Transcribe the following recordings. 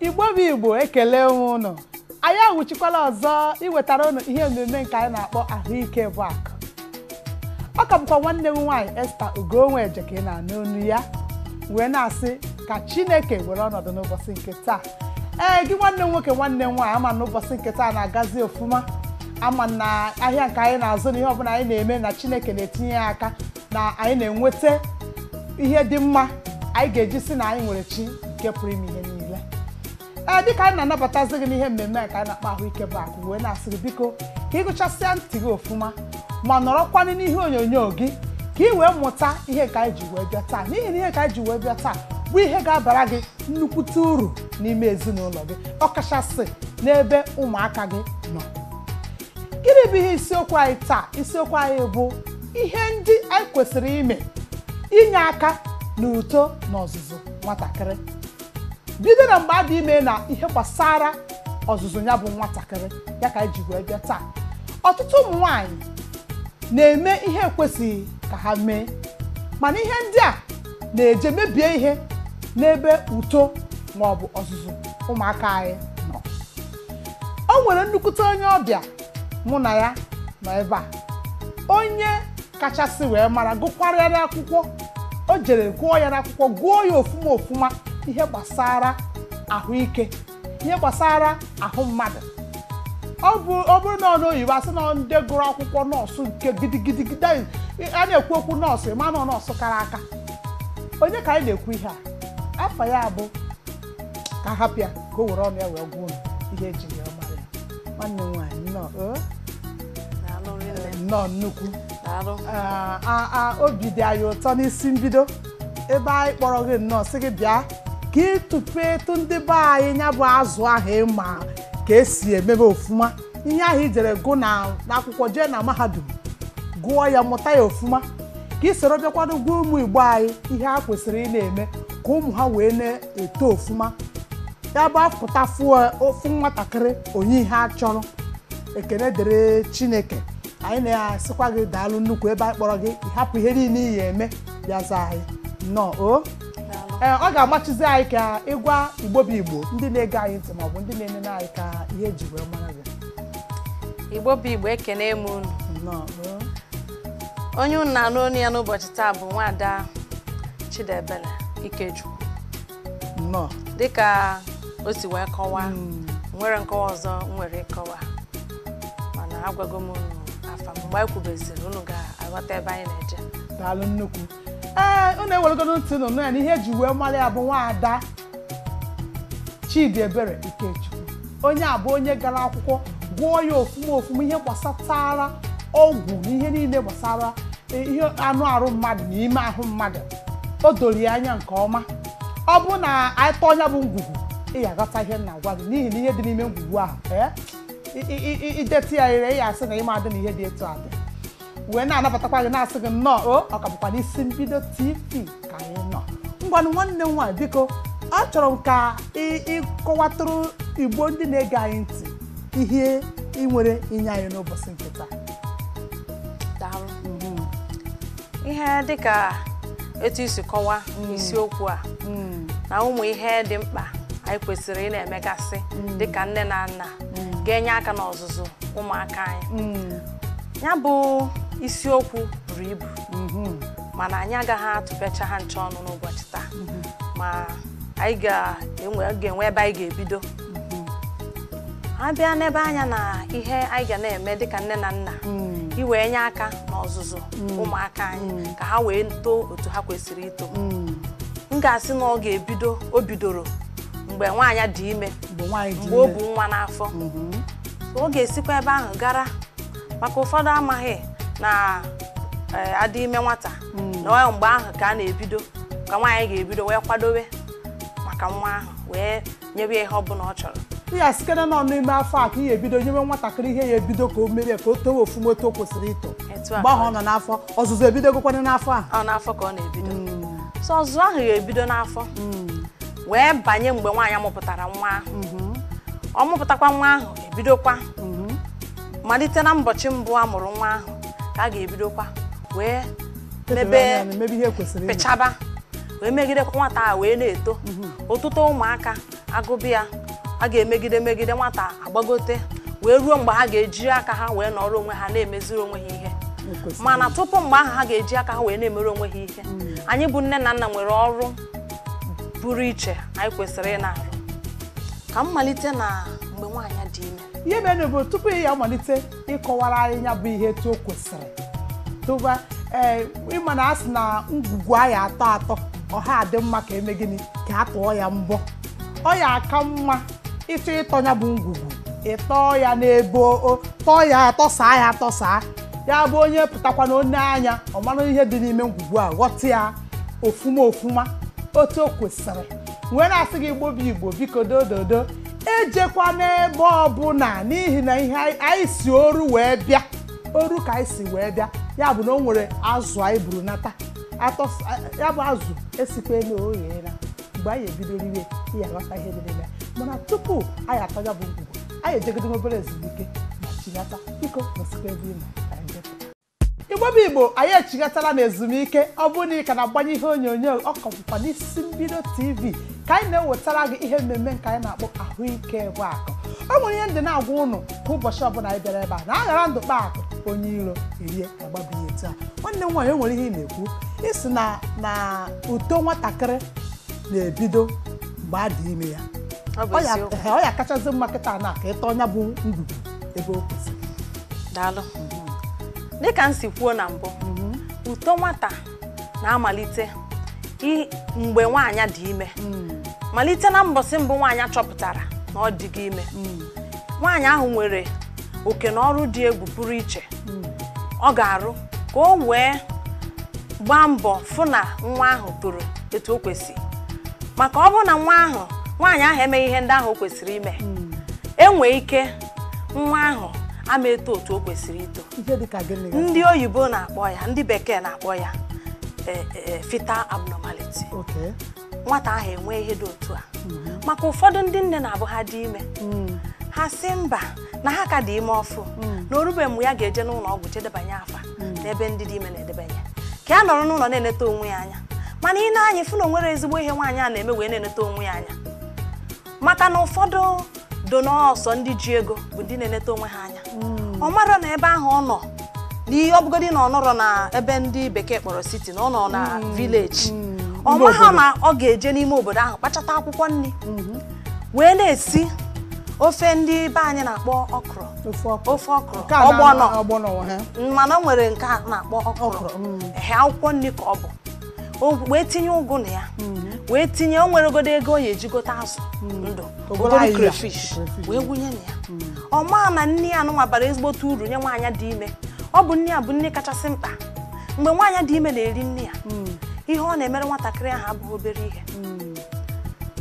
igbo bụ igbo ekele m ụnụ anyị awụchikwala ọzọ iwetara ụnụ ihe omume nke anyị na-akpọ ahụike bụ akụ ọ ka bụkwa nwanne m nwaanyị esther ugonweje ka ị na-anụ olu ya wee na-asị ka chineke were ọnọdụ n'ụbọchị nke taa ee gị nwanne m nwoke nwanne m nwaanyị ama na ụbọchị nke taa na-agazi ofuma ama na ahịa nke anyị na-azụ na ihe ọbụla anyị na-eme na chineke na-etinye ya aka na anyị na-enweta ihe dị mma anyị ga-eji sị na anyị nwere chi nke pụrụ ime ihe niile ee dịka anyị na-anabatazi gị n'ihe mmemme a ka anyị na-akpọ ahụike bụ akụ wee na-asị gị biko ka ị gụchasịa ntị gị ọfụma ma nọrọkwanụ n'ihe onyonyo gị ka ị wee mụta ihe ka anyị ji wee bịa taa n'ihi na ihe ka anyị ji wee bịa taa bụ ihe ga-abara gị nnukwute uru n'ime ezinụlọ gị ọkachasị n'ebe ụmụaka gị nọ gịnị bụ ihe isiokwu anyị taa isiokwu anyị bụ ihe ndị anyị kwesịrị ime inye aka na uto na ọzụzụ nwatakịrị bido na mgbe a dị ime na ihe gbasara ọzụzụ ya bụ nwatakịrị ya ka anyị ji wee bịa taa ọtụtụ ụmụ nwanyị na-eme ihe ekwesịghị ka ha mee mana ihe ndị a na-eje mebie ihe n'ebe uto ma ọ bụ ọzụzụ ụmụaka anyị o nwere nnukwute onye ọbịa mụ na ya nọ ebe a onye kachasị wee mara gụkwara ya n'akwụkwọ o jere gụọ ya n'akwụkwọ gụọ ya ofuma ofuma ihe gbasara ahụike ihe gbasara ahụ mmadụ ọ bụrụ na onu oyibo asị na ndị gụrụ akwụkwọ nọọsụ nke gidigidi a na-ekwu okwu nọọsụ ịma na nọọsụ kara aka onye ka anyị na-ekwu ihe a afa ya bụ ka a hapụ ya ka o were ọnụ ya wee gwa m ihe ejiri ya mara ya nwanne m nwaanyị nnọọ o, Daalụ rinne. nnọọ nnukwu Daalụ. Ah, ah, ah, obi dị anyị ụtọ n'isi mbido ebe anyị kpọrọ gị nnọọ sị gị bịa ka ị tụpụtụ ndị be anyị ya bụ azụ ahụ ị ma ka esi emebe ofuma ihe ahụ i jere gụ n'akwụkwọ jee na mahadum gụọ ya mụta ya ofuma ka i soro bịakwanụ gwa ụmụ igbo anyị ihe ha kwesịrị ị na-eme ka ụmụ ha wee na-eto ofuma ya bụ apụta fụ nwatakịrị o nye ihe a chọrọ ekene dịrị chineke anyị na-asịkwa gị daalụ nnukwu ebe anyị kpọrọ gị ị hapụ ihe niile ị ya eme bịa zaa anyị nnọọ o ee ọ ga-amasịzi anyị ka ị gwa igbo bụ igbo ndị na-ege anyị ntị maọbụ ndị na-enene anyị ka ihe eji wee mara gị igbo bụ igbo ekene m unu nnọọ oo. onye unu na-anụ onu ya n'ụbọchị taa bụ nwaada Chidebele Ikechukwu nnọọ dịka o si wee kọwaa Mm. nwere nkọwa ọzọ m nwere ịkọwa mana agwago m unu afa m mgbe anyị kwubeziri unu ga-aghọta ebe anyị na-eje daalụ nnukwu ee unu eweregodo ntị unu nụ ya na ihe eji wee mara ya bụ nwaada Chidiebere Ikechukwu onye a bụ onye gara akwụkwọ gụọ ya ofuma ofuma ihe gbasatara ọgwụ na ihe niile gbasara e, ihe anụ arụ mmadụ na ime ahụ mmadụ o doro ya anya nke ọma ọ bụrụ na anyị tọọ ya bụ ngwugwu ị ya aghọta ihe m na-agwa gị n'ihi na ihe dị n'ime ngwugwu ahụ ee, i- i- i- i detụ ya ire ị ya asị na ị madị na ihe dị etu a dị wee na-anabatakwa gị na-asị gị nnọọ o ọ ka bụkwa n'isi mbido tv ka anyị nọ ngwanụ nwanne m nwaanyị biko achọrọ m ka ị- ị kọwatụrụ igbo ndị na-ege anyị ntị ihe i nwere inye anyị n'ụbọchị nke taa daalụ ihe dịka etu i si kọwaa isiokwu a na ụmụ ihe dị mkpa anyị kwesịrị ị na-emegasị dịka nne na nna ga-enye aka n'ọzụzụ ụmụaka anyị ya bụ isiokwu buru ibu mhm. mana anyị agaghị atụpecha ha ncha ọnụ n'ụbọchị taa mhm. ma anyị ga-enwe ebe anyị ga-ebido mhm. a bịa n'ebe anya na ihe anyị ga na-eme dịka nne na nna mm. iwee nye aka n'ọzụzụ mm. ụmụaka anyị mm. ka ha wee too otu ha kwesịrị ito m ga-asị na ọ ga-ebido o bidoro mgbe nwaanyị dị ime mgbe o bu nwa n'afọ ọ ga-esikwa ebe ahụ gara maka ụfọdụ amaghị na eh, a dị ime nwata hmm. na ọ mgbe ahụ ka a na-ebido ka nwaanyị ga-ebido wee kwadowe maka nwa ahụ wee nyebe ya ihe ọ bụla ọ chọrọ ya site na ọ nọ n'ime afọ a ka ị ya ebido nyewe nwatakịrị ihe ya ebido ka o mere ka o towe ofuma otu o kwesịrị ito mgbe ahụ ọ nọ n'afọ ọzụzụ ebidogokwana n'afọ a ọ n'afọ ka ọ na-ebido hmm. so ọzụzụ ahụ ya ebido n'afọ hmm. wee banye mgbe nwaanyị mụpụtara nwa ahụ mhm. ọ mụpụtakwa nwa ahụ ebidokwa mhm. malite na mbọchị mbụ a mụrụ nwa ahụ ka a ga-ebidokwa wee mebe pịchaba wee megide ka nwata a wee na-eto mhm. otuto ụmụaka agwụbeghị a ga-emegide megide nwata agbagote wee ruo mgbe ha ga-eji aka ha wee nọrọ onwe ha na-emeziri onwe ha ihe mana tupu mgbe ahụ ha ga-eji aka ha wee na-emere onwe ha ihe mm. anyị bụ nne na nna nwere ọrụ pụrụ iche anyị kwesịrị ị na-arụ ka m malite na mgbe nwaanyị dị ime ihe mere bụ tupu ị ya amalite ịkọwara anyị ya bụ ihe etu o kwesịrị tụba ee ị ma na a sị na ngwugwu a ya atọ atọ ọ ha adị mma ka e mee gịnị ka a tụọ ya mbọ ọ ya aka mma ị chọọ ịtọ ya bụ ngwugwu ị tọọ ya n'ebe tọọ ya atọsaa ya atọsaa ya bụ onye pụtakwa na o nee anya ọ mara ihe dị n'ime ngwugwu a ghọta ya ofuma ofuma otu o kwesịrị wee na-asị gị igbo bụ igbo biko dododo ejekwa n'ebe ọbụla n'ihi na ihe anyị- anyị si oru wee bịa oru ka anyị si wee bịa ya bụ na o nwere azụ anyị buru nata ya bụ azụ esikwala o gheela mgbe anyị ebido riwe ya aghọta ihe dị n'ime mana tupu anyị atọ ya bụ ngwugwu anyị ejegodo obere ezumike ma chigata biko nọsikwa ebe ị nọ igbo bụ igbo anyị echigatala na ezumike ọ bụrụ na ị ka na-agbanye ihe onyonyo ọ ka bụkwa n'isi mbido tv ka anyị na-ewetara gị ihe mmemme nke anyị na-akpọ ahụike bụ akụ o nwere ihe ndị na-agwa ụnụ kwa ụbọchị ọbụla anyị bịara ebe a na a ghara ndụ kpaa akụ onye iro erie agbabi ihe taa nwanne m nwaanyị o nwere ihe ị na-ekwu ị sị na uto nwatakịrị na-ebido mgbe a dị ime ya ọ bụ ọ ya- eziokwu ehe, ọ ya kachazi mma kịta na ka ị tọọ nya bụ ngwugwu ebe o kwesịrị daalụ dịka m si kwuo na mbụ uto nwata na-amalite i- mgbe nwaanyị dị ime malite na mbọsị mbụ nwaanyị chọpụtara na ọ dịgo ime nwaanyị ahụ nwere oke na ọrụ dị egwu pụrụ iche ọ ga-arụ ka o wee gbaa mbọ fụ na nwa ahụ toro etu o kwesịrị maka ọ bụrụ na nwa ahụ nwaanyị ahụ emeghị ihe ndị ahụ o kwesịrị ime hmm. e nwee ike nwa ahụ ama eto otu o kwesịrị ito ndị oyibo na-akpọ ya ndị bekee na-akpọ ya e, e, e, fetal abnormality nwata ahụ enwee ihe dị otu a hmm. maka ụfọdụ ndị nne na-abụ ha dị ime hmm. ha sị mba na ha ka dị ime ọfụ na o rube mgbe ya ga-eje n'ụlọ ọgwụ je debanye afa n'ebe ndị dị ime na-edebanye ka ya nọrọ n'ụlọ na-eneta onwe ya anya mana i nee anya ị fụ na o nwere ezigbo ihe nwaanyị a na-eme wee na-eneta onwe ya anya maka na ụfọdụ do na ọ sọ ndị ji ego bụ ndị na-eneta onwe ha anya ọ mara na ebe ahụ ọ nọ n'ihe ọ bụgodi na ọ nọrọ na ebe ndị bekee kpọrọ city na ọ nọ na village ọ maha na ọ ga-eje n'ime obodo ahụ kpachata akwụkwọ nni wee na-esi ofe ndị be anyị na-akpọ ọkrọ ofe ọkrọ ofe ọkrọ Nke a na- ọgbọnọ ọgbọnọ ha mana o nwere nke a na-akpọ ọkrọ Ọkrọ, mm. ehe akwụkwọ nni ka ọ bụ O wee tinye ụgụ na ya wee tinye o nweregodo ego ọ ya-eji gote azụ ndụ obere obere ayịya, crayfish crayfish. wee wunye na ya ọ maa na nni a nụnwa bara ezigbote uru nye nwaanyị dị ime ọ bụ nni a bụ nni kachasị mkpa mgbe nwaanyị dị ime na-eri nni a ihe ọ na-emere nwatakịrị ahụ abụghị obere ihe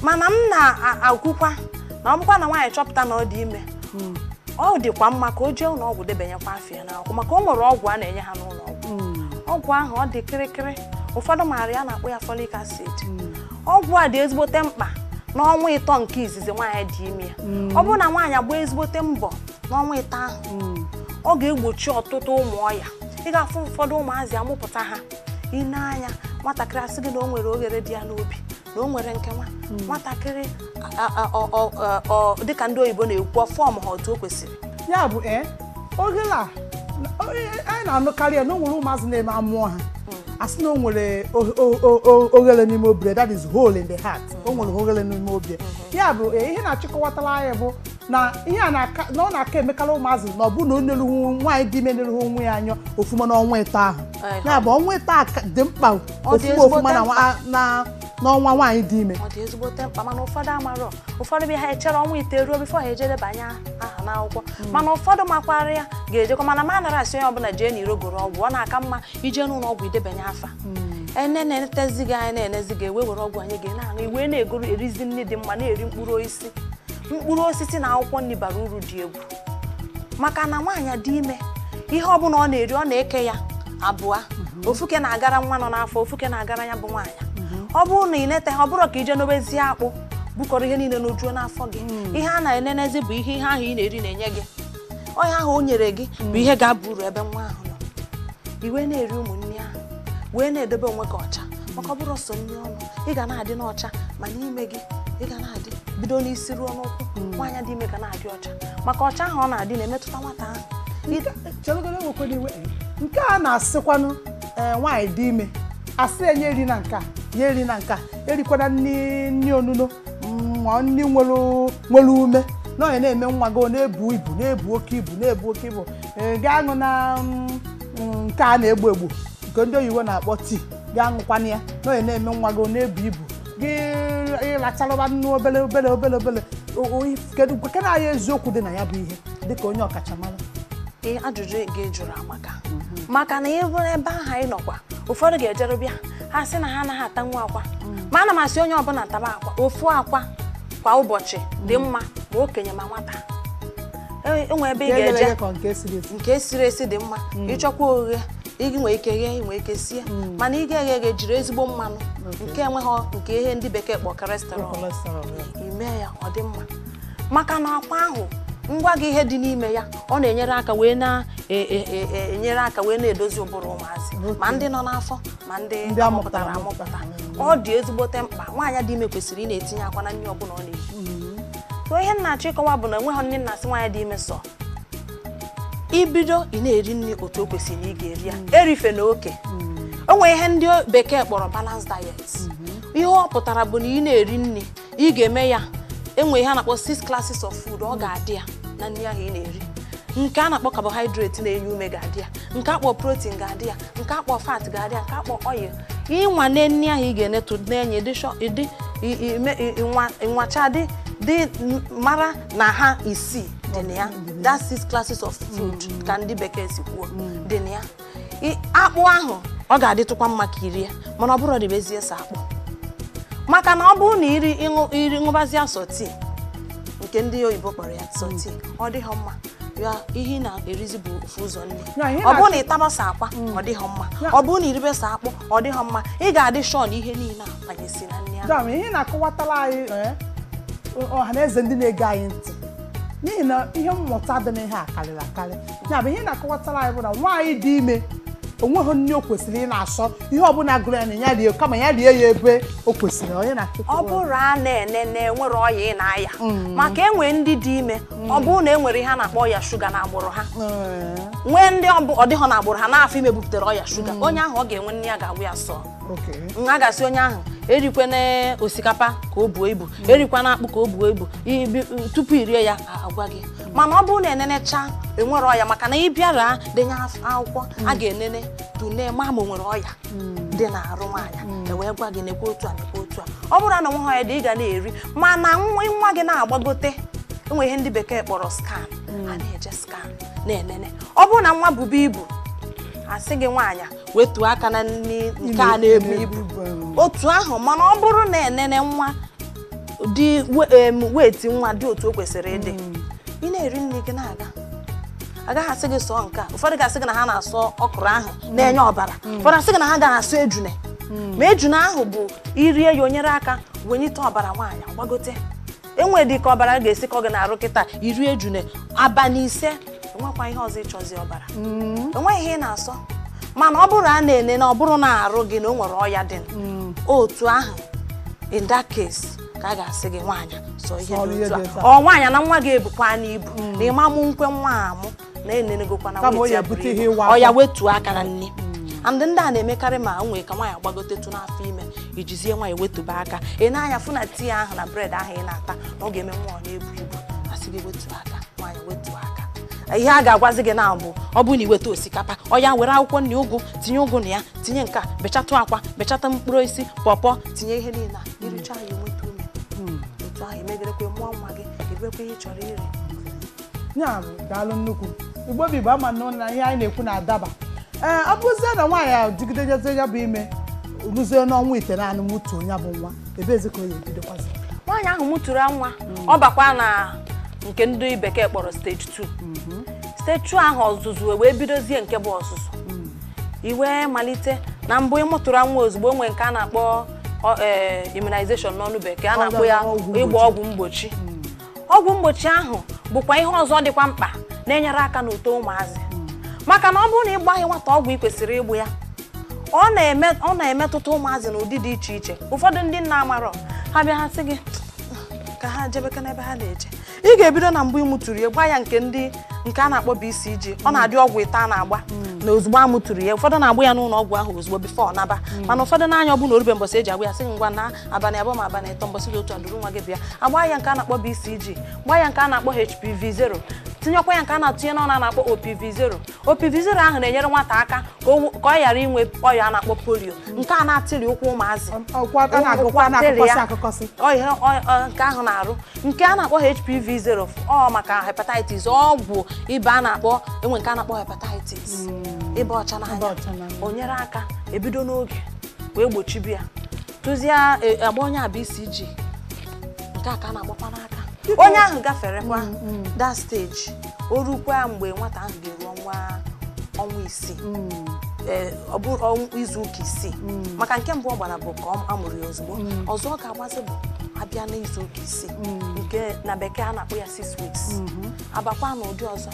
mana m na-ekwukwa na ọ bụkwa na nwaanyị chọpụta na ọ dị ime hmm. ọ dịkwa mma ka o jee ụlọ ọgwụ debanyekwa afa ya n'akwụkwọ maka o nwere ọgwụ a na-enye ha n'ụlọ ọgwụ hmm. ọgwụ ahụ ọ dị kịrịkịrị ụfọdụ maara ya na-akpọ ya folic acid hmm. ọgwụ a dị ezigbote mkpa n'ọnwa ịtọ nke izizi nwaanyị dị ime ya ọ bụrụ na nwaanyị agbaa ezigbote mbọ n'ọnwa ịtọ ahụ ọ ga-egbochi ọtụtụ ụmụ ọya ị ga-afụ ụfọdụ ụmụazị a mụpụta ha ị nee anya nwatakịrị a sị gị na o nwere oghere dị ya n'obi na o nwere nke nwa hmm. nwatakịrị dịka ndị oyibo na-ekwu form ha otu o kwesịrị ya bụ ee eh, oghere a anyị na-anụkarị ya na o nwere ụmụazị na-eme a mụọ ha hmm. a sị na o nwere oghere n'ime obi ya that is hole in the heart o nwere oghere n'ime obi ya hmm. ya bụ eh, ihe ị na-achọ ịkọwatara anyị bụ na ihe a na-aka na ọ na-aka emekarị ụmụazị na ọ bụ na o neruhu nwaanyị dị ime neruhu onwe ya anya ofuma n'ọnwa ịtọ ahụ Ehe. ya bụ ọnwa ịtọ a ka- dị mkpa Ọ dị ofuma ezigbo ofuma na mkpa. nwa- na- n'ọnwa nwaanyị dị ime ọ dị ezigbote mkpa mana ụfọdụ amarọ ụfọdụ bịa ha echere ọnwa ịtọ eruo before ha eje debanye aha n'akwụkwọ mana ụfọdụ makwara ya ga-ejekwa mana m anarọ asị onye ọbụla jee n'iro goro ọgwụ ọ na-aka mma ije n'ụlọ ọgwụ idebanye afa e nee na-enetezi gị anya na-enezi gị e wee were ọgwụ ahụ ị ga na-aṅụ i wee na-egoro erizi nri dị mma na-eri mkpụrụ osisi osisi mkpụrụ osisi na akwụkwọ nri bara uru dị egwu maka na nwaanyị dị ime ihe ọ bụla ọ na-eri ọ na-eke ya abụọ mhm. ofu oke na-agara nwa nọ n'afọ ofu oke na-agara ya bụ nwaanyị mhm. ọ bụrụ na ị neta ha ọ bụrọ ka i jee nobezie akpụ bukọrọ ihe niile nojuo n'afọ gị mm. ihe a na-enenezi bụ ihe ihe ahụ ị na-eri na-enye gị ọ ihe ahụ o nyere gị bụ ihe ga-aba uru ebe nwa ahụ nọ i wee na-eri ụmụ nri ahụ wee na-edebe onwe gị ọcha maka ọ bụrọ sọ nri ọnụ ị ga na-adị n'ọcha ma n'ime gị ị ga na-adị bido n'isi ruo n'ụkwụ hmm. nwaanyị dị ime ga na-adị ọcha maka ọcha ahụ ọ na-adị na-emetụta nwata ahụ nke a na-asịkwanụ eh, nwaanyị dị ime a sị na ya erina nka ya erina nka erikwana nri onuno ma nri nwere nwere ume na ọ ya na-eme nwa gị ọ na-ebu ibu na-ebu oke ibu na-ebu oke ibu Ee, gị aṅụna mm, mm, nke a na-egbu egbu nke ndị oyibo na-akpọ tea gị aṅụkwana ya na ọ ya na-eme nwa gị ọ na-ebu ibu gị lacharụba nnu obele obele obele obele O- o- if- kedu kedu anyị eziokwu dị na ya bụ ihe dịka onye ọkachamara Ee, ajụjụ gị jụrụ amaka maka na ọ bụ ebe ahụ anyị nọkwa ụfọdụ ga-ejeru bịa ha sị na ha anaghị atanwu akwa ma ana m asị onye ọbụla taba akwa ofu akwa kwa ụbọchị dị mma ma okenye ma nwata e nwee ebe ị ga-eje nke e siri esi dị mma mm. ị chọkwa oghe ị nwee ike ghee nwee ike sie mm. mana ị ga-eghe eghe jiri ezigbo mmanụ nke enweghị nke ihe ndị bekee kpọ cholesterol n'ime ya ọ dị mma maka na akwa ahụ m gwa gị ihe dị n'ime ya ọ na-enyere aka wee na-enyere e, e, e, aka wee na-edozi ụbụrụ ụmụazị ma ndị nọ n'afọ ma ndị amụpụtara amụpụta. ọ dị ezigbote mkpa nwaanyị dị ime kwesịrị ị na-etinye akwa na nri ọbụla ọ na-eri so ihe m na-achọ ịkọwa bụ na enweghị nri a na-asị nwaanyị dị ime sọọ i bido ị na-eri nri otu o kwesịrị na ị ga-eri ya erifena oke o nwere ihe ndị bekee kpọrọ balance diet ihe ọ pụtara bụ na ị na-eri nri ị ga-eme ya enwe ihe a na-akpọ six classes of food ọ ga-adị ya na nri ahụ ị na-eri nke a na-akpọ carbohydrate na-enye ume ga-adị ya nke akpọ protein ga-adị ya nke akpọ fat ga-adị ya nke akpọ oil ịnwa na nri ahụ ị ga-enetụ na-enye dị sure dị i- i- me- i- nwa- nwacha dị dị m- mara na ha isii dị na ya that six classes of food ka ndị bekee si kwuo dị na ya akpụ ahụ ọ ga-adịtụkwa mma ka i rie mana ọ bụrụ ribezie sọ akpụ maka na ọ bụrụ na iri iri ṅụbazie sọ tii nke ndị oyibo kpọrọ ya sọ tii ọ dịghị mma ya ihe ị na-erizi bụ ofu ụzọ nri ọ bụrụ na ị taba sọ akwa ọ dịghị mma ọ bụrụ na i ribe sọ akpụ ọ dịghị mma ị ga-adị sure na ihe niile abanyesị na nri ahụ ihe ị na-akọwatara anyị eh, ọha na eze ndị na-ege anyị ntị n'ihi na ihe mmụta dị n'ihe a karịrị akarị ya bụ ihe ị na-akọwatara anyị bụ na nwaanyị dị ime o nweghị nri o kwesịrị ị na-asọ ihe ọbụla gụrụ ya na ya rie kama ya rie ya ebe o kwesịrị onye na ọ bụrụ a na-ene na enwere ọya ị na-aya mm. maka enwe ndị dị ime mm. ọ bụrụ na enwere ihe a na-akpọ ọya shuga na agbụrụ ha mm. nwee ndị ọ dịghọ na agbụrụ ha n'afọ ime buputere ọya shuga onye ahụ ọ ga-enwe nri a ga-agwa ya sọọ a ga-asị onye ahụ erikwana osikapa ka o buo ibu erikwana akpụ ka o buo ibu tupu i rie ya agwa gị mana ọ bụrụ na enenecha enwere ọya maka na ị bịara denye af- akwụkwọ a ga-enene tụnee ma ma o nwere ọya dị n'arụ nwaanyị e wee gwa gị nekwa otu a nekwa otu a ọ bụrụ na o nweghị ọya dị ị ga na-eri mana nwa gị na-agbagote enwe ihe ndị bekee kpọrọ scan a na-eje scan na-enene ọ bụrụ na nwa bube ibu a sị gị nwaanyị wetuo aka na nri nke a na-ebu ibu otu ahụ mana ọ bụrụ na enene nwa dị weight nwa dị otu o kwesịrị ịdị hmm. ị na-eri nri gị na-aga a gaghị asị gị sọọ nke a ụfọdụ ga-asị gị na ha na-asọ ọkụrụ ahụ na-enye ọbara hmm. ụfọdụ asị gị na ha ga-asọ ejune hmm. ma ejune ahụ bụ i rie ya o nyere aka wenyite ọbara nwaanyị gbagote enwe dị ka ọbara ga-esi kọọ gị n'arụ kịta i rie ejune abalị ise enwekwa ihe ọzọ ịchọzi ọbara mm. enweghị ihe ị na-asọ mana ọ bụrụ a na-ene na ọ bụrụ n'arụ gị na o nwere ọya dị mm. otu ahụ in that case ka a ga-asị gị nwaanyị sọọ ihe or nwaanyị na nwa gị ebukwana ibu mm. na ị ma mụ nkwe nwa amụ kama o ya bute ihe ịwa ọ ya wetuo aka na nri and ndị a na-emekarị ma nwee ka nwaanyị gbagotetụ n'afọ ime ijizie nwaanyị wetụba aka ị nee anya fụ na tii ahụ na bred ahụ ị na-ata na ọ ga-eme nwa ọ na-ebu ibu a sị gị wetuo aka nwaanyị wetuo aka ihe a ga-agwazi gị na bụ ọ bụrụ na i weta osikapa ọ ya were akwụkwọ nri ụgụ tinye ụgụ na ya tinye nke a bechatụ akwa bechatụ mkpụrụ osisi pọpọ tinye ihe niile a i richa ya enweta ume otu ahụ emegerekwe mụọ nwa gị eribekwe ihe ị chọrọ iri ya bụ daalụ nnukwu igbo bụ igbo ama na ụlọ na ihe anyị na-ekwu na-adaba ee ọ bụzie na nwaanyị ahụ jigide jezie ya bụ ime ruzie n'ọnwa itenaanị mụtuo ya bụ nwa ebeezi ka ọ ya ebidokwazị nwaanyị ahụ mụtụrụ nwa ọ bakwa na nke ndị bekee kpọrọ stage 2 stage 2 ahụ ọzụzụ wee bidozie nke bụ ọzụzụ e wee malite na mbụ ị mụtụrụ nwa ozugbo nwere nke a na-akpọ ọ- eh, immunization n'ọnụ bekee a na-akpọ ya Ọgwụ mgbochi. ịgba ọgwụ mgbochi ọgwụ mgbochi ahụ bụkwa ihe ọzọ dịkwa mkpa na-enyere aka n'uto ụmụazị maka na ọ bụrụ na ị gbaghị nwata ọgwụ ị kwesịrị ịgba ya ọ na-eme ọ na-emetụta ụmụazị n'ụdị dị iche iche ụfọdụ ndị nna amarọ ha bịa ha sị gị ka ha jebekwa n'ebe ha na-eje ị ga-ebido na mgbe ị mụtụrụ ya gbaa ya nke ndị nke a na-akpọ BCG ọ na-adị ọgwụ ịtọ a na-agba na ozugbo a mụtụrụ ya ụfọdụ na-agba ya n'ụlọ ọgwụ ahụ ozugbo before ọ naba mana ụfọdụ na ya ọ bụ na o rube mbọsị e ji agba ya sị ngwa na abalị abụọ ma abalị ịtọ mbọsị dị otu a duru nwa gị bịa a gbaa ya nke a na-akpọ BCG gbaa ya nke a na-akpọ HPV 0 tinyekwa ya nke a na-atụnye n'ọnụ a na-akpọ OPV 0 OPV 0 ahụ na-enyere nwata aka ka o- ka ọ ghara inwe ọya a na-akpọ polio nke a na-atịrị ụkwụ ụmụazị ọkwa a na-agụkwa Ụkwụ atịrị na-akụkọsị ya. akụkọsị Ọ ihe ọ- ọ- nke ahụ na-arụ nke a na-akpọ HPV 0 ọ maka hepatitis ọgwụ ịba a na-akpọ e nwee nke a na-akpọ hepatitis ịba ọcha Ịba ọcha n'anya n'anya. o nyere aka e bido n'oge wee gbochibe ya tụzie e, a gbaa onye a BCG nke a ka a na-agbakwa n'aka onye ahụ gaferekwa mm, mm. that stage o rukwa mgbe nwata ahụ ga-eru ọnwa ọnwa isii mm. e, ọ bụrụ izu ụka isii maka nke mbụ ọ gbara bụ ka a mụrụ ya ozugbo ọzọ ọ ga-agbazi bụ a bịa n'izu ụka isii nke na bekee a na-akpọ ya six weeks mm-hmm. a bakwa n'ụdị ọzọ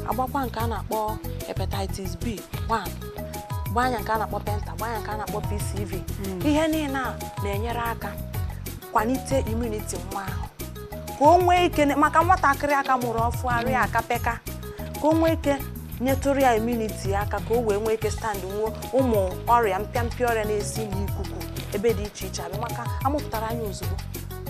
a gbakwa nke a na-akpọ hepatitis B 1 gbanye ya nke a na-akpọ penta gbanye ya nke a na-akpọ PCV hmm. ihe niile a na-enyere aka kwalite immunity nwa ahụ ka o nwee ike maka nwatakịrị a ka mụrụ ọfụụ arụ ya hmm. akabe aka ka o nwee ike nyetụrụ ya immunity ya aka ka o wee nwee ike stand nwuo ụmụ ọrịa mpịampịa ọrịa na-esi n'ikuku ebe dị iche iche abịa maka a mụpụtara ya ozugbo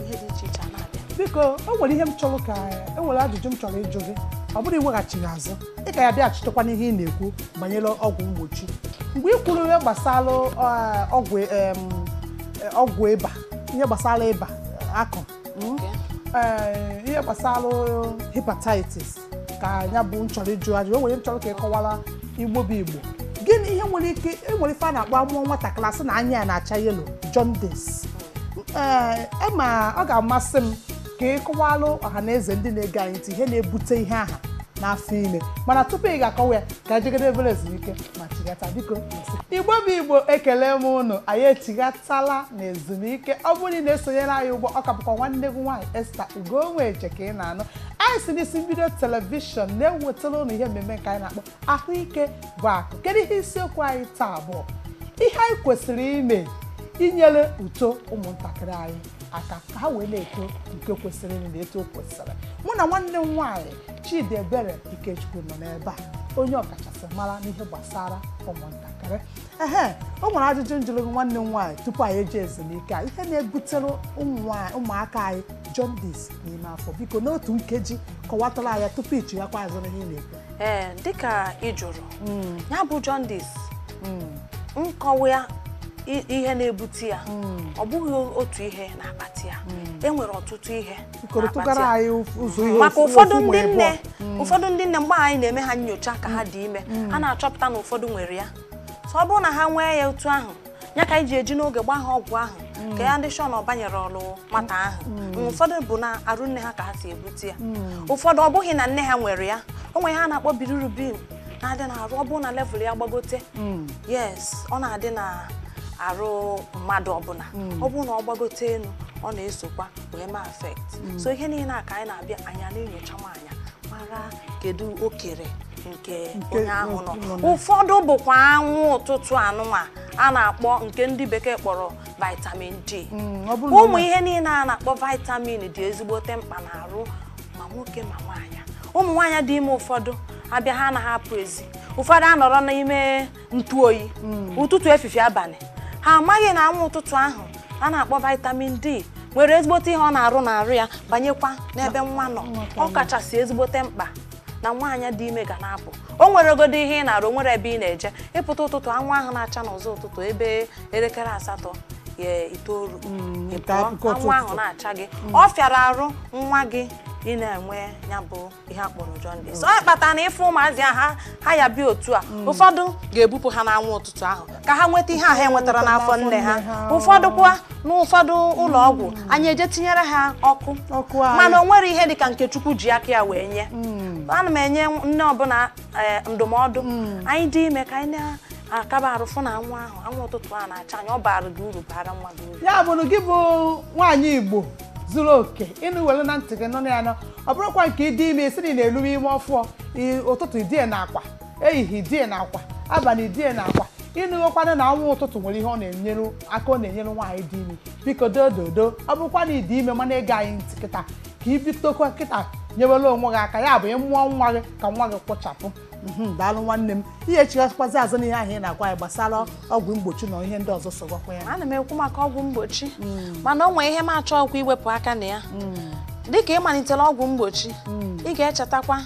ihe dị iche iche na-abịa biko o nwere ihe m chọrọ ka e nwere ajụjụ m chọrọ ịjụ gị ọ bụrụ iweghachi azụ ị ka ya bịaghachitekwa n'ihe ị na-ekwu banyere ọgwụ mgbochi mgbe ị kwuru ihe gbasara eh, ọgwụ em, eh, ọgwụ ịba ihe gbasara ịba eh, akọm, eh, ihe gbasara hepatitis ka ya bụ m chọrọ ịjụ ajụ o nwere ihe m chọrọ ka ị kọwara igbo bụ igbo gịnị ihe nwere ike e nwere ife a na-akpọ a mụọ nwatakịrị a sị na anya ya na-acha yelo jaundice ee ma ọ ga-amasị m ka ị kọwalụ ọha na eze ndị na-ege anyị ntị ihe na-ebute ihe aha n'afọ ime mana tupu ị ga-akọwa ya ka anyị jegodi obere ezumike ma chighata biko igbo bụ igbo ekele m unu anyị echighatala na ezumike ọ bụrụ na ị na-esonyere anyị ugbu a ọ ka bụkwa nwanne gị nwaanyị Esther Ugonweje ka ị na-anụ anyị si n'isi mbido telivishọn na-ewetara unu ihe mmemme nke anyị na-akpọ ahụike bụ akụ kedu ihe isiokwu anyị taa bụ ihe anyị kwesịrị ime inyere uto ụmụntakịrị anyị aka ka ha wee na-eto nke kwesịrị na etu o kwesịrị mụ na nwanne m nwaanyị Chidiebere Ikechukwu nọ n'ebe a onye ọkachasị mara n'ihe gbasara ụmụntakịrị ehe o nwere ajụjụ m jụrụ gị nwanne m nwaanyị tupu anyị eje ezumike a ihe na-ebutere ụmụ nwaanyị- ụmụaka anyị jaundice n'ime afọ biko n'otu nkeji kọwatara anyị tupu ị chighaakwa azụ na ihe ị na-ekwu ee eh, dịka ị jụrụ hmm. ya bụ jaundice hmm. nkọwa ya ihe na-ebute ya hmm. ọ bụghị otu ihe na-akpata ya e nwere ọtụtụ ihe maka ụfọdụ ndị nne mgbe anyị na-eme ha nyocha ka ha dị ime a na-achọpụta na ụfọdụ nwere ya so ọ bụrụ na ha nwee ya otu ahụ ya ka anyị ji eji n'oge gbaa ha ọgwụ ahụ mm. ka anyị dị sure na ọ banyere arụ nwata ahụ mm. Mm, ụfọdụ bụ na arụ nne ha ka ha si ebute ya ụfọdụ ọ bụghị na nne ha nwere ya o nwere ihe a na-akpọ bilirubin na-adị na arụ ọ bụrụ na level ya gbagote yes ọ na-adị na arụ mmadụ ọbụla ọ bụrụ na ọ gbagote elu ọ na-esokwa wee ma affect so ihe niile a ka anyị na-abịa anyị na-enyocha nwaanyị mara kedu okere nke onye ahụ nọ ụfọdụ bụkwa anwụ ụtụtụ anụnwa a na-akpọ nke ndị bekee kpọrọ vitamin D mm, ụmụ ihe niile a na-akpọ vitamin dị ezigbote mkpa n'arụ ma nwoke ma nwaanyị ụmụ nwaanyị dị ime ụfọdụ abịa ha anaghị apụ ezi ụfọdụ anọrọ n'ime ntụ oyi hmm. ụtụtụ efifie abalị ha amaghị na anwụ ụtụtụ ahụ a na-akpọ vitamin D nwere ezigbote ihe ọ na-arụ n'arụ ya banyekwa n'ebe nwa nọ ọ kachasị ezigbote mkpa na nwaanyị dị ime ga na-apụ o nweregodo ihe ị na-arụ nwere ebe ị na-eje ịpụta ụtụtụ anwụ ahụ na-acha n'ụzọ ụtụtụ ebe elekere asatọ itoolu hmm, anwụ ahụ na-acha gị hmm. ọ fịara arụ nwa gị ị na-enwe ya bụ ihe a kpọrọ jaundice ọ kpatara na ịfụ ụmụazị a ha ha ya-abịa otu a ụfọdụ ga-ebupụ ha n'anwụ ụtụtụ ahụ ka ha nweta ihe a ha enwetara n'afọ nne ha ụfọdụ kwa n'ụfọdụ ụlọ ọgwụ anyị eje tinyere ha ọkụ Ọkụ anyị. mana o nwere ihe dị ka nke chukwu ji aka ya wee nye ana m enye nne ọbụla eh, ndụmọdụ nwaanyị dị ime ka anyị na-akaba arụ fụ na anwụ ahụ anwụ ụtụtụ a na-acha anyị ọ baara gị uru baara nwa gị uru ya bụrụ gị bụ nwaanyị igbo zuru oke ịnụ were na ntị gị nọ na ya nọ ọ bụrụkwa nke ịdị ime ị si na ị na-eluwe ime ọfụọ i- ụtụtụ idie na akwa ehihie idie na akwa abalị idie na akwa ị nụgokwanụ na anwụ ụtụtụ nwere ihe ọ na-enyere aka ọ na-enyere nwaanyị dị ime biko dododo ọ bụrụkwa na ị dị ime ma na-ege anyị ntị kịta ka i bidokwa kịta nyewere onwe gị aka ya bụ ị mụọ nwa gị ka nwa gị kwụchapụ Mhm, daalụ nwanne m ị ya-echighasịkwazi azụ n'ihe ahụ ị na-agwa anyị gbasara ọgwụ mgbochi na ihe ndị ọzọ sogakwa ya ana m ekwu maka ọgwụ mgbochi mana o nwee ihe m achọghịkwa iwepụ aka na ya dịka ị malitere ọgwụ mgbochi ị ga-echetakwa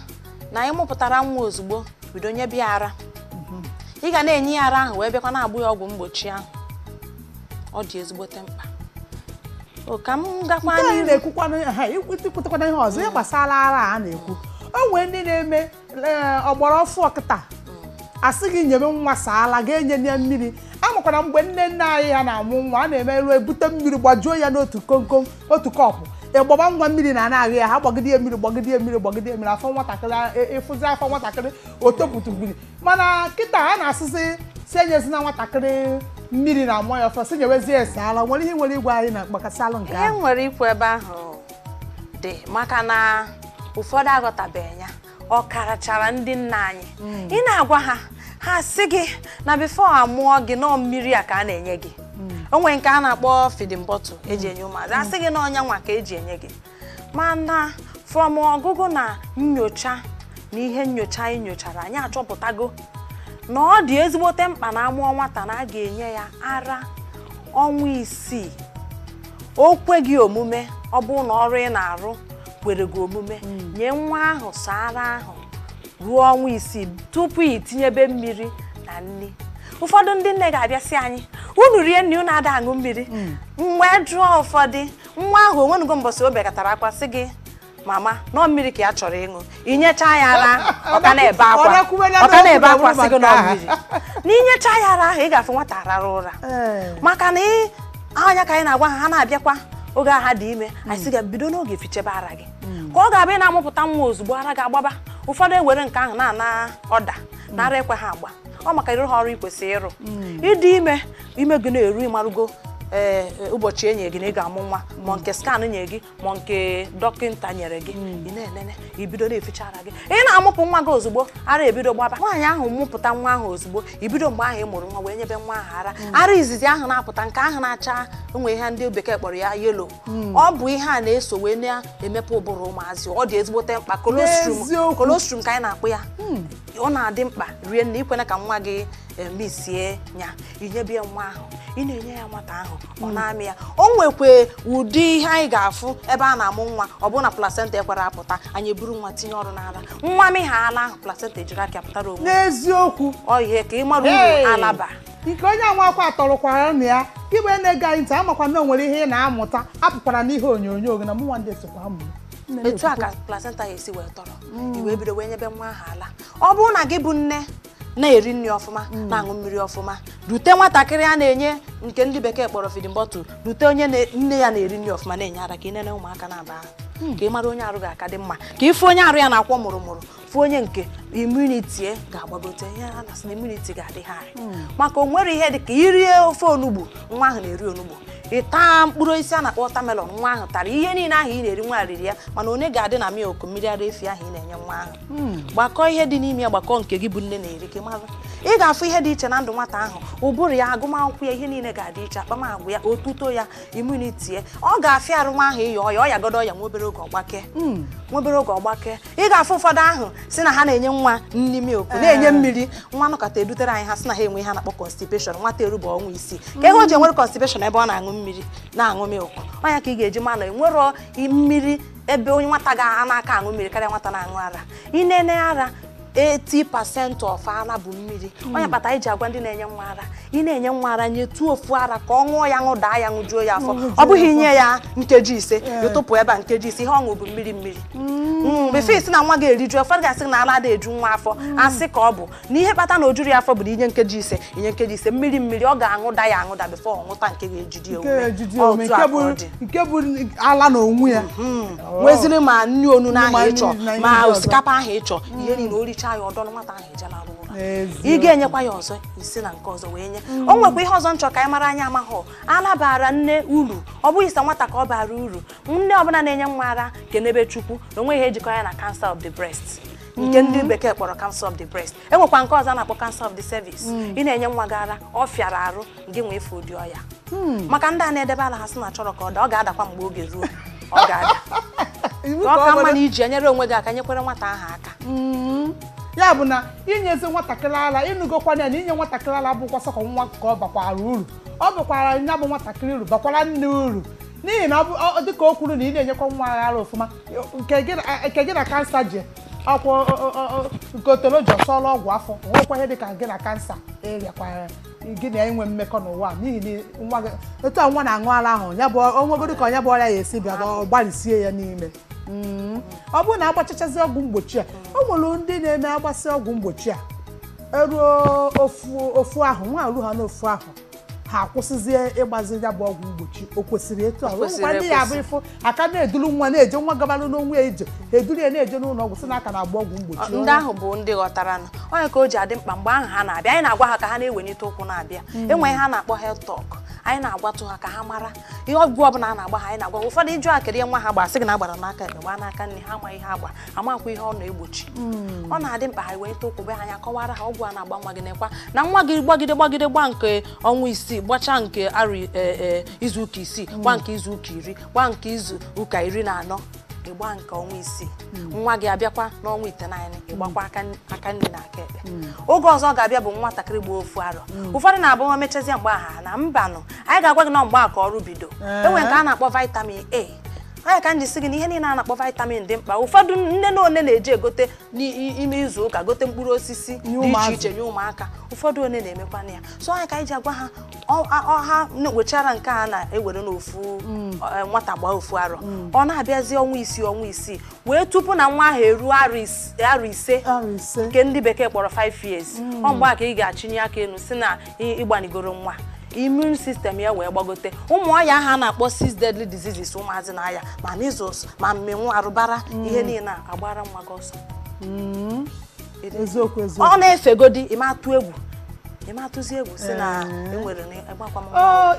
na ị mụpụtara nwa ozugbo bido nyebe ya ara ị ga na-enye ya ara ahụ wee bịakwa na-agba ya ọgwụ mgbochi ahụ ọ dị ezigbote mkpa o ka m gakwa Nke anyị n'ihu na-ekwukwana ha ikwutekwana ihe ọzọ ihe gbasara ara a na-ekwu o nwee ndị na-eme ọgbara ọfụọ kịta a sị gị nyebe nwa sọ ala gị enyena ya mmiri a makwara mgbe nne nne anyị ha na-amụ nwa a na-emelu ebute mmiri gbajuo ya n'otu komkom otu kọpụ ị gbaba nwa mmiri na anaghị ya ha gbagide mmiri gbagide mmiri gbagide mmiri afọ nwatakịrị ịfụzi afọ nwatakịrị o topụta mmiri mana kịta a na-asịzi si enyezina nwatakịrị mmiri na amụ ya ọfụọ sị nyewezie ya sọ ala nwere ihe nwere ịgwa anyị na gbasalụ nke ahụ nwere ikwu ebe ahụ dị maka na ụfọdụ aghọtabeghị ya ọ karachara ndị nna anyị hmm. ị na-agwa ha ha sị gị na before amụọ gị na ọ mmiri a ka a na-enye gị hmm. o nwere nke a na-akpọ feeding bottle eji enye ụmụazị a sị gị na ọ nya nwa ka eji enye gị mana from ọgụgụ na nyocha na ihe nyocha anyị nyochara anyị achọpụtago na ọ dị ezigbote mkpa na amụọ nwata na a ga-enye ya ara ọnwa isii o kwe gị omume ọ bụrụ na ọrụ ị na-arụ kwere gị omume hmm. nye nwa ahụ sọ ara ahụ ruo ọnwa isii tupu ị tinyebe mmiri na nri ụfọdụ ndị nne ga-abịa sị anyị unu rie nri unu ada aṅụ mmiri hmm. m wee jụọ ụfọdụ nwa ahụ o nwenugo mbọsị o bekatara akwa sị gị mama na ọ mmiri ka ya chọrọ ịṅụ inyecha ya ara ọ ka na-ebe akwa ọ ka na-ebe akwa sị gị na ọ mmiri n'inyecha ya ara ahụ ị ga-afụ nwata arara ụra maka na ọ nya ka anyị na-agwa ha ha na-abịakwa oge ha dị ime anyị sị gị bido n'oge fichebe ara gị ka ọ ga-abụ na amụpụta nwa ozugbo ara gị agbaba ụfọdụ ewere nke ahụ na-ana ọda na ara ekweha agba ọ maka ị rụha ọrụ i kwesịrị ịrụ hmm. ị dị ime ime gị na-eru ị marụgo ee eh, eh, ụbọchị e nyere gị na ị ga-amụ nwa ma nke scan nye gị ma nke dọkịta nyere gị hmm. ị na-enene i bido na-eficha ara gị ị na-amụpụ nwa gị ozugbo ara ebido gbaba nwaanyị ahụ mụpụta nwa ahụ ozugbo i bido mgbe ahụ ị mụrụ nwa wee nyebe nwa ahụ ara hmm. ara izizi ahụ na-apụta nke ahụ na-acha o nwe ihe ndị bekee kpọrọ ya yellow hmm. ọ bụ ihe na-eso wee na-emepe ụbụrụ ụmụazị ọ dị ezigbote mkpa colostrum colostrum ka anyị na-akpọ ya ọ na-adị mkpa rinne i kwena ka nwa gị eh, misie ya i nyebe ya nwa ahụ ị na-enye ya nwata ahụ ọ mm. na-amị ya o nwekwa ụdị ihe anyị ga-afụ ebe a na-amụ nwa ọ bụrụ na placenta ekwerọ apụta anyị eburu nwa tinye ọnụ n'ala nwa mịa ala ahụ placenta ejiri aka pụtara onwe n'eziokwu ọ ihe ka ị mara uru ala ba nke onye a nwakwa atọrọkwara na ya igbe na-ege anyị ntị amakwa na o nwere ihe ị na-amụta apụkwara n'ihe onyonyo gị na mụnwa ndị sokwa amụ etu a ka placenta ya esi wee tọrọ mm. i wee bido wee nyebe nwa ahụ ala ọ bụrụ na gị bụ nne na-eri nri ọfụma mm. na-aṅụ mmiri ọfụma dute nwatakịrị a na-enye nke ndị bekee kpọrọ feeding bottle dute onye nne ya na-eri nri ọfụma na-enye ara ka ị nene ụmụaka naabọ ahụ mm. ka ị mara onye arụ ga-aka dị mma ka ị fụ onye arụ ya na-akwọ mụrụ mụrụ fụ onye nke immunity ya ga-agbagote ihe a na-asị na immunity ga-adị high mm. maka o nwere ihe dị ka i rie ofe onugbu nwa ahụ na-eri onugbu ị taa mkpụrụ osisi a na-akpọ watermelon nwa ahụ tara ihe niile ahụ ị na-eri nwa riri ya mana onye ga-adị na milk mmiri ara efi ahụ ị na-enye nwa ahụ hmm. gbakọ ihe dị n'ime ya gbakọ nke gị bụ nne na-eri ka ị mara ị ga-afụ ihe dị iche na ndụ nwata ahụ ụbụrụ ya agụmakwụkwọ ya ihe niile ga-adị iche akpamagwa ya otuto ya immunity ya ọ ga-afịa arụ nwa ahụ ịya ọya ọ yagodu ọya nwa obere oge ọ gbake hmm. nwa obere oge ọ gbake ị ga-afụ ụfọdụ asị na ha na-enye nwa nri milk eh. na-enye mmiri nwa nọkọta edutere anyị ha sị na ha enwe ihe a na-akpọ constipation nwata eruba ọnwa isii kee ihe o ji enwere constipation ebe ọ na-aṅụ mmiri na-aṅụ milk ọ nya ka ị ga-eji ma na enwerọ mmiri ebe onye nwata ga na-aka aṅụ mmiri karịa nwata na-aṅụ ara ị na-enye ara 80% of ara bụ mmiri hmm. ọ nya kpata i ji agwa ndị na-enye nwa ara ị na-enye nwa ara nyetuo ofu ara ka ọ ṅụọ ya ṅụdaa ya ṅụjuo ya afọ ọ bụghị i nye ya nkeji ise ị tụpụ ebe a nkeji ise ihe ọ ṅụ bụ mmiri mmiri hmm. Hmm, before ị sị na nwa ga-eriju ụfọdụ ga-asị na ara ada-eju nwa afọ asị ka ọ bụ na ihe kpata na o jurọ ya afọ bụ na i nye nkeji ise i nye nkeji ise mmiri mmiri ọ ga-aṅụda ya aṅụda before ọ ṅụta nke ga-ejide Nke ya ejide ya ume, otu nke a ka ọ dị bụ- nke bụ ala na onwe ya nweziri ma nri onunu Ma ahụ ị chọ nri na ihe ma ndị ọzọ. osikapa ahụ ị chọ ihe niile o richaa ya ọ dọ na nwata ahụ eje larụ ụra N'eziokwu. ị ga-enyekwa ya ọzọ i si na nke ọzọ wee nye o nwekwa ihe ọzọ m chọrọ ka anyị mara anyị amaghọ ala bara nne uru ọ bụghị sọ nwata ka ọ bara uru nne ọbụla na-enye nwa ara kenebe chukwu na o nweghị ihe jikọ ya na cancer of the breast nke ndị bekee kpọrọ cancer of the breast enwekwa nke ọzọ a na-akpọ cancer of the cervix ị na-enye nwa gị ara ọ fịara arụ gị nwee ife ụdị ọya maka ndị a na-edebe ala ha sị na achọrọ ka ọ daa ọ ga-adakwa mgbe oge ruo ọ ga-ada Iwu ka ka ọ ọ ka mma bụrụ- na iji enyere onwe gị aka nyekwere nwata ahụ aka Mm. ya bụ na inyezi nwatakịrị ara ịnụgokwana ya na inye nwatakịrị ara bụkwa sọsọ nwa ka ọ bakwara uru ọ bakwara ya bụ nwatakịrị uru bakwara nne uru n'ihi na ọ bụ ọ- dịka o kwuru na ị na-enyekwa nwa ara ọfụma nke gị na kansa ji akwụ nke otoloji ọsọla ọgwụ afọ nwekwa ihe dịka gị na kansa ịrịakwara gị na inwe mmekọ n'ụwa n'ihi na nwa gị etu a nwa na-aṅụ ara ahụ ya bụ o nwegodu ka nya bụ ọrịa ya esi bịa ọ gbarisie ya n'ime mm. ọ bụrụ na agbachachazi ọgwụ mgbochi a o nwere ndị na-eme agbasị ọgwụ mgbochi a eruo ofu ahọ nwa eruhaa n'ofu ahọ ha akwụsịzie ịgbazi ya bụ ọgwụ mgbochi o kwesịrị etu a nwekwa ndị ya bụ ị fụ a ka na-eduru nwa na-eje nwa gabala n'onwe ya ije ha eduru ya na-eje n'ụlọ ọgwụ sị na a ka na-agba ọgwụ mgbochi ndị ahụ bụ ndị ghọtara na ọ nya ka o ji adị mkpa mgbe ahụ ha na-abịa anyị na-agwa ha ka ha na-ewenite ụkwụ na-abịa hmm. enwe ihe a na-akpọ health talk anyị na-agwatụ ha ka ha mara ihe ọgwụ ọbụla a na-agba ha anyị na-agwa ụfọdụ ịjụ akịrị nwa ha gbara sị gị na agbara n'aka ekpe gbaa n'aka nri ha amaghị ihe agba amakwa ihe ọ na-egbochi hmm. ọ na-adị mkpa ha wenite ụkwụ bịa anyị akọwara ha ọgwụ a na-agba nwa gị nekwa na nwa gị gbagide gbagide gba nke ọnwa isii gbachaa nke arụ e, e, izu ụka isii hmm. gba nke izu ụka iri gba nke izu ụka iri na anọ ịgba nke ọnwa isii hmm. nwa gị abịakwa n'ọnwa itenaanị ịgbakwa aka nri na aka ekpe oge ọzọ ọ ga-abịa bụ nwatakịrị gbaa ofu arọ ụfọdụ na-abụ nwa mechazie mgbe a ha anaa mbanụ anyị ga-agwa gị na mgbe a ka ọrụ bido eh. enwere nke a na-akpọ vitamin A ọ nya ka m ji sị gị na ihe niile a na-akpọ vitamin dị mkpa ụfọdụ nne na one na-eji egote n'ime izu ụka gote mkpụrụ osisi dị iche iche nye ụmụaka ụfọdụ one na-emekwana ya so ọ nya ka anyị ji agwa ha ọ- a- ọ- ha na- wechara nke a na-ewere n'ofu eh, nwata gbaa ofu arọ ọ na-abịazi ọnwa isii ọnwa isii wee tupu na nwa ahụ eruo arọ is- arọ ise arọ ise nke ndị bekee kpọrọ 5 years ọ mgbe a ka ị ga-achịnye aka elu sị na ịgbanigoro nwa immune system ya wee gbagote ụmụ ọya ahụ a na-akpọ six deadly diseases ụmụazị na-aya ma measles ma mmenwu arụbara mm. ihe niile agbara nwa gị ọsọ mm. eziokwu eziokwu ọ na-efegodi ịma atụ egwu ịma atụzi egwu sị na eh. enwere ịgbakwa m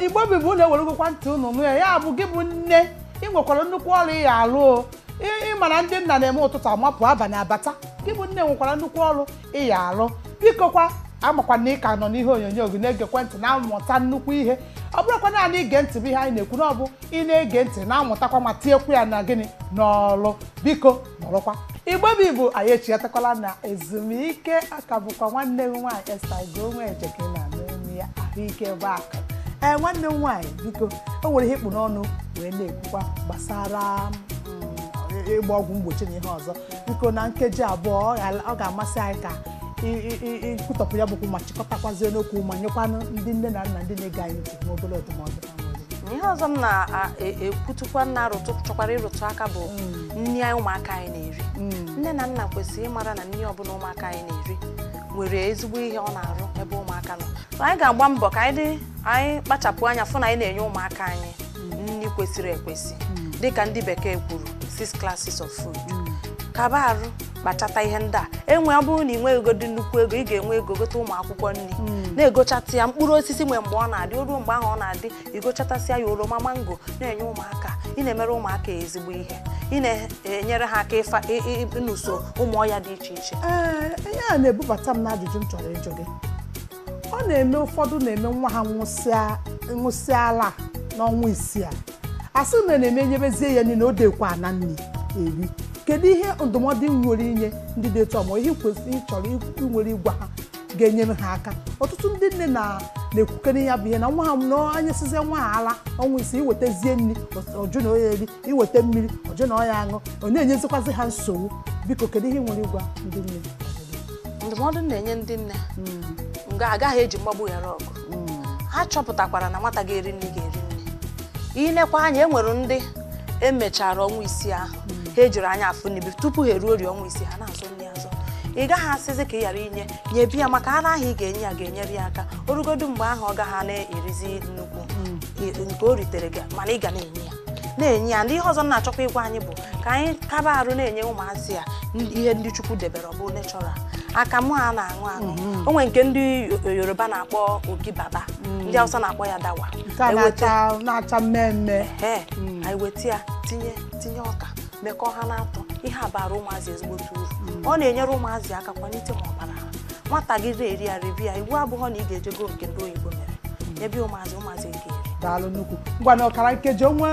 igbo bụ igbo ụnụ eweregokwa ntị ụnụ nụ ya ya bụ gị bụ nne ị nwekwara nnukwu ọrụ ị ya alụ ị ma na ndị nna na-eme ụtụtụ amapụ abalị abata gị bụ nne nwekwara nnukwu ọrụ ị ya alụ bikokwa amakwa na ị ka nọ n'ihe onyonyo gị na-egekwa ntị na-amụta nnukwu ihe ọ bụrụkwa naanị ige ntị bụ ihe anyị na-ekwu na ọ bụ ị na-ege ntị na-amụtakwa ma tinyekwu ya na gịnị n'ọlụ biko nọrọkwa igbo bụ igbo anyị echighatakwala na ezumike ọ ka bụkwa nwanne m nwaanyị Esther igbo onwe eje ka ị na-anụ olu ya ahụike bụ akụ ee nwanne m nwaanyị biko o nwere ihe ị kpụ n'ọnụ wee na-ekwukwa gbasara mm, ịgba ọgwụ mgbochi na ihe ọzọ biko na nkeji abụọ ọ ga- ọ ga-amasị anyị ka ị- ị- ị- ị kwutọpụ ya bụ okwu ma chịkọtakwazie n'okwu ma nyekwanụ ndị nne na nna ndị na-ege anyị ntị nwa obere ndụmọdụ ha nwere. ihe ọzọ m na-ekwutukwa na-arụtụ chọkwara ịrụtụ aka bụ nri anyị ụmụaka anyị na-eri nne na nna kwesịrị ịmara na nri ọbụla ụmụaka anyị na-eri nwere ezigbo ihe ọ na-arụ ebe ụmụaka nọ anyị ga-agba mbọ ka anyị dị- anyị kpachapụ anya fụ na anyị na-enye ụmụaka anyị nri kwesịrị ekwesị dịka ndị bekee kwuru six classes of food kaba arụ kpachata ihe ndị a enwe ọ bụrụ na ị nweghị ego dị nnukwu ego ị ga-enwe ego gote ụmụ akwụkwọ nri na-egochata ya mkpụrụ osisi nwee mgbe ọ na-adị o ruo mgbe ahụ ọ na-adị i gochatasịa ya oroma mango na-enye ụmụaka ị na-emere ụmụaka ezigbo ihe ị na-enyere ha aka ịfa ị- ị- ịnụso ụmụ ọya dị iche iche Ee, ihe a na-ebubata m n'ajụjụ m chọrọ ịjụ gị ọ na-eme ụfọdụ na-eme nwa ha ṅụsịa ala n'ọnwa isii a asị na na-eme nyebezie ya nri na o dekwa ana nri eri kedu ihe ndụmọdụ i nwere inye ndị dị etu ọmụ ihe kwesịrị ị chọrọ i nwere ịgwa ha ga-enyere ha aka ọtụtụ ndị nne na-ekwukere ya bụ ihe na nwa ha na ha nyesizie nwa ha ala ọnwa isii i wetazie nri ọ jụ na ọ ya-eri i weta mmiri ọ jụ na ọ ya-aṅụ ọ na-enyezikwazi ha nsogbu biko kedu ihe ị nwere ịgwa ndị nne ndụmọdụ m na-enye ndị nne na a gaghị eji mgbagbu ghara ọgụ ha chọpụtakwara na nwata ga-eri nri ga-eri nri i lekwa anya e nwere ndị e mechara ọnwa isii ahụ ha ejiri anya afụ nri tupu ha eruo ori ọnwa isii ha na-azọ nri azọ ị gaghị asịzi ka ị ghara inye nyebe ya maka ara ahụ ị ga-enye ya ga-enyere ya aka o rugodu mgbe ahụ ọ gaghị na-erizi nnukwu nke o ritere gị mana ị ga na-enye ya na-enye ya nri ihe ọzọ m na-achọkwa ịgwa anyị bụ ka anyị kaba arụ na-enye ụmụazị a ihe ndị chukwu debere ọ bụ natural akamụ a na-aṅụ aṅụ mhm. o nwere nke ndị yoruba na-akpọ ogi baba mhm. ndị awụsa na-akpọ ya dawa na-acha mmee mmee mhm. anyị weta ya tinye tinye ọka mekọọ ha n'atọ ihe a bara ụmụazị ezigbote uru mm. ọ na-enyere ụmụazị aka kwalite ma ọbara ha nwata gị na-eri ya ribi ya iwu abụghọ na ị ga-eje go nke ndị oyibo mere mm. ebe ụmụazị ụmụazị nke daalụ nnukwu ngwa na ọkara nkeji o nwe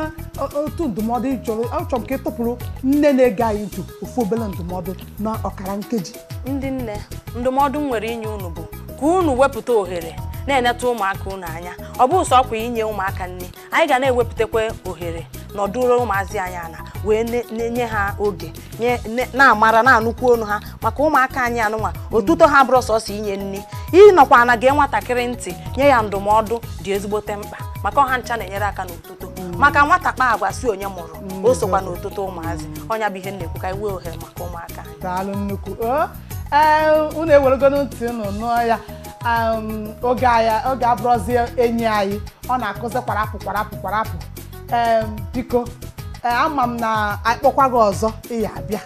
otu ndụmọdụ chọrọ achọrọ m ka ị tụpụrụ nne na-ege anyị ntị ofu obere ndụmọdụ na ọkara nkeji ndị nne ndụmọdụ m nwere inye unu bụ ka unu wepụta ohere na-eneta ụmụaka unu anya ọ bụ sọ okwu inye ụmụaka nri anyị ga na-ewepụtakwa ohere nọdụrụ ụmụazị anyị ala wee ne- na-enye ha oge nye- ne- na-amara na-anụkwu olu ha maka ụmụaka anyị anụnwa otuto ha abụrọ sọsọ inye nri ịnọkwa ala gee nwatakịrị ntị nye ya ndụmọdụ dị ezigbote mkpa maka ọ ha ncha na-enyere aka n'otuto maka nwata kpaa agwa sị onye mụrụ o sokwa n'otuto ụmụazị ọ nya bụ ihe m na-ekwu ka anyị wee ohere maka ụmụaka anyị daalụ nnukwu o ee unu eweregonu ntị unu nụọ ya um, oge anya oge abụrọzi enyi anyị ọ na-akụzi kwarapụ kwarapụ kwarapụ Em, biko eh, ama m na anyị kpọkwa gị ọzọ ị ya-abịa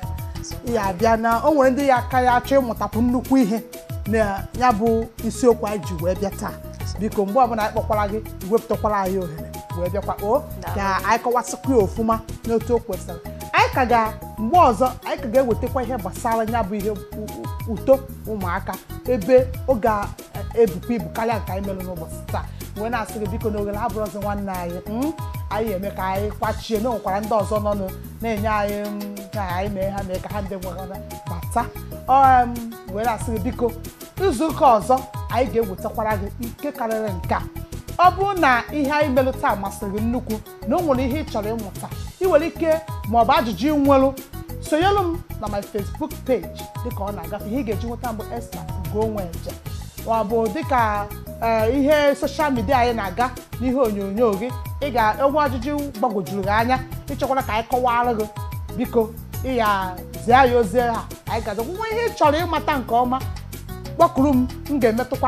ị ya-abịa na o nwere ndị ka ya-achọ ịmụtakwu nnukwu ihe na ya bụ isiokwu anyị ji wee bịa taa biko mgbe ọbụla anyị kpọkwara gị wepụtakwara anyị ohere wee bịakwa o ka anyị kọwasịkwa ya ọfụma n'otu o kwesịrị anyị ka ga mgbe ọzọ anyị ka ga-ewetakwa ihe gbasara ya bụ ihe u- u- uto ụmụaka ebe ọ ga-ebukwa ibu karịa nke anyị melụ n'ụbọsị taa wee na-asị gị biko na ohere abụrọzi nwanne anyị mm, anyị ya-eme ka anyị kwachie na nwekwara ndị ọzọ nọ nụ na-enye anyị mm, ka anyị mee ha mee ka ha ndị nwegara bata um, wee na-asị gị biko izu ụka ọzọ anyị ga-ewetakwara gị nke karịrị nke a ọ bụrụ na ihe anyị melụ taa masịrị gị nnukwu na o nwere ihe ị chọrọ ịmata ị nwere ike ma ọ bụ ajụjụ ị nwelụ sonyelu m na my Facebook page dịka ọ na-agafe ihe ị ga-eji nweta m bụ Esther Ugonweje ma ọ bụ dịka ee, ihe soshal midia anyị na-aga n'ihe onyonyo gị o nwee ajụjụ gbagwojuru gị anya ị chọkwara ka anyị kọwara gị biko ị ya zie ya ozi ha anyị ga-azakwa nwee ihe ị chọrọ ịmata nke ọma kpọkuru m m ga-emetụkwa